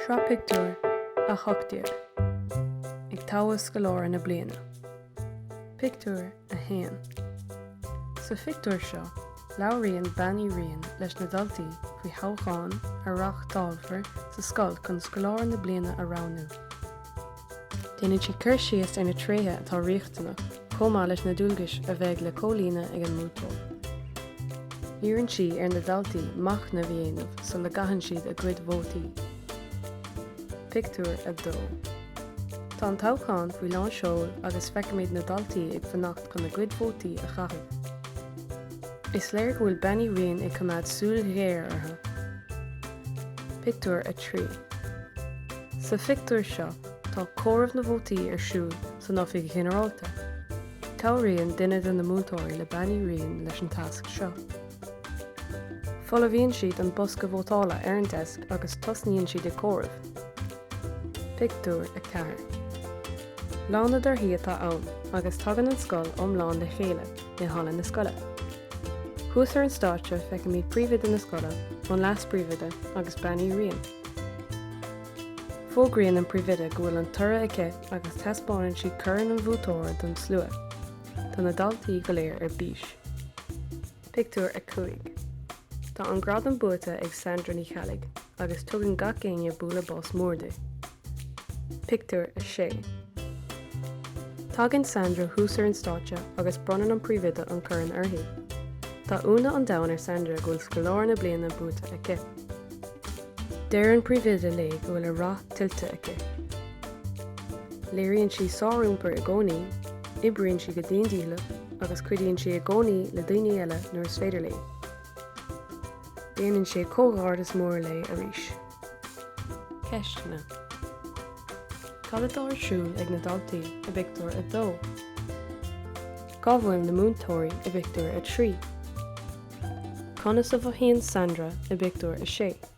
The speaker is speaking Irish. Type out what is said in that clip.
Sraith Pictiúr 18 Ag Toghadh Scoláire na Bliana Pictiúr 1 Sa phictiúr seo, labhraíonn Bean Uí Riain leis na daltaí faoi thoghchán a reáchtálfar sa scoil chun Scoláire na Bliana a roghnú. Déanann sí cur síos ar na tréithe atá riachtanach chomh maith leis na dualgais a bheidh le comhlíonadh ag an mbuaiteoir. Iarrann sí ar na daltaí machnamh a dhéanamh sula gcaitheann siad a gcuid vótaí. Pictiúr 2. Tá an toghchán faoi lán seoil agus feicimid na daltaí ag fanacht chun a gcuid vótaí a chaitheamh. Is léir go bhfuil Bean Uí Riain ag coimeád súil ghéar orthu. Pictiúr 3 Sa phictiúr seo tá comhaireamh na vótaí ar siúl san Oifig Ghinearálta. Cabhraíonn duine de na múinteoirí le Bean Uí Riain leis an tasc seo. Folmhaíonn siad an bosca vótála ar an deasc agus tosnaíonn siad ag comhaireamh. Pictiúr 4 Lá na dtorthaí atá ann agus tagann an scoil iomlán le chéile i halla na scoile. Thuas ar an stáitse feicimid príomhoide na scoile, an leas-príomhoide agus Bean Uí Riain. Fógraíonn an príomhoide go bhfuil an toradh aici agus taispeánann sí corn an bhuaiteora don slua. Tá na daltaí go léir ar bís. Pictiúr 5. Tá an gradam buaite ag Sandra Ní Cheallaigh agus tugann gach éinne bualadh bos mór di. Pictiúr 6 Tagann Sandra thuas ar an stáitse agus bronnann an príomhoide an corn uirthi. Tá ionadh an domhain ar Sandra go bhfuil scoláire na bliana buaite aici. Deir an príomhoide léi go bhfuil a rath tuillte aici. Léiríonn sí sáriompar i gcónaí, oibríonn sí go dian dícheallach agus cuidíonn sí i gcónaí le daoine eile nuair is féidir léi. Déanann sí comhghairdeas mór léi arís. Ceisteanna Cad atá ar siúl ag na daltaí i bpictiúr 2? Cá bhfuil na múinteoirí i bpictiúr 3? Conas a mhothaíonn Sandra i bpictiúr 6?